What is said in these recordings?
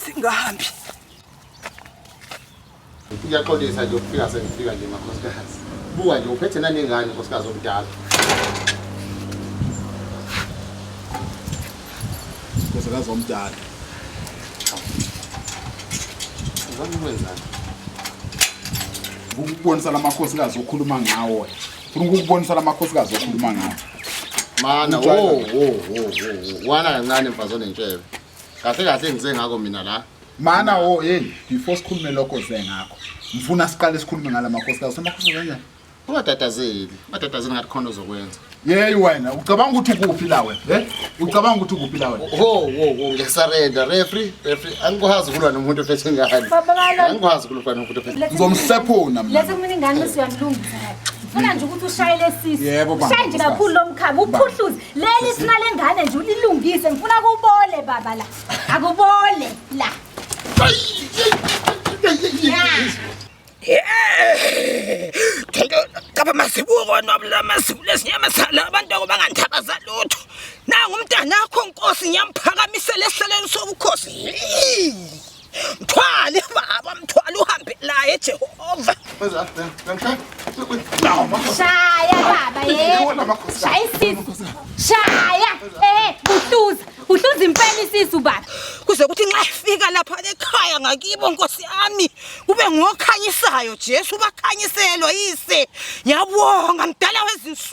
singahambi kuyaxolisa nje ukufika sengifika nje makhosikazi buka nje uphethe nanengane nkosikazi omdala nkosikazi omdala uzama ukwenzani ukubonisa lamakhosikazi okhuluma ngawo Funa ukukubonisa lamakhosikazi okhuluma ngawo. Mana wo wo wo wo. Wana kancane mfazi onentshebe. Kahle kahle ngize ngako mina la. Mana wo hey before sikhulume lokho ze ngakho. Ngifuna siqale sikhulume ngalamakhosikazi. Samakhosikazi kanjani? Ungatatazeli. Ungatatazeli ngathi khona ozokwenza. Yeyi wena ucabanga ukuthi ukuphi la wena eh ucabanga ukuthi ukuphi la wena ho wo wo ngesarenda referee referee angikwazi ukulwa nomuntu ophethe ingane angikwazi ukulwa nomuntu ophethe ngizomhlephuna mina lezi mina ingane siyamlungisa Funa nje ukuthi ushaye lesisi. Yebo baba. Ushaye nje kakhulu lomkhaba uphuhluze. Leli sina lengane nje ulilungise ngifuna kubole baba la. Akubole la. Caba masibuko nobula masibu lesinyama sala abantu okubanganthabaza lutho. Nangu umntana wakho nkosi ngiyamphakamisa lesihlaleni sobukhosi. Mthwale baba mthwale uhambe laye Jehova. Mzala, ngangishaya. Shaya baba yebo. Shaya isisu. Shaya. Eh, uhluza. Uhluza impela isisu baba. Kuze kuthi nxa ifika lapha ekhaya ngakibo Nkosi yami kube ngokhanyisayo Jesu bakhanyiselwa yise. Yabonga mdala wezinsuku.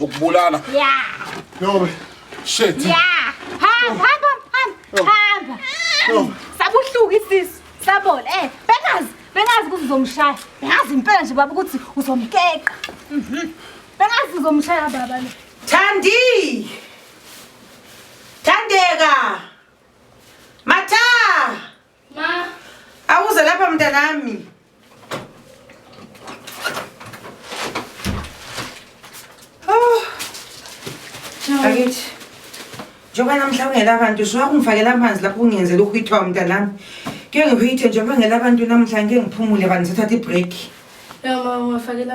ukubulala ya yobe shit ya hamba hamba hamba hamba sabuhluku isisu sabola eh bengazi bengazi ukuthi uzomshaya bengazi impela nje baba ukuthi uzomkeqa mhm. bengazi uzomshaya baba lo thandi thandeka matha Ma. Awuze lapha mntanami. Oh. Bakithi. Njengoba namhla ungela abantu usuka kungifakela amanzi lapho kungenzela ukuhithwa mntanami. Ke ngihithe njengoba ngela abantu namhla ngeke ngiphumule bani sithatha i-break. Ya ma ungafakela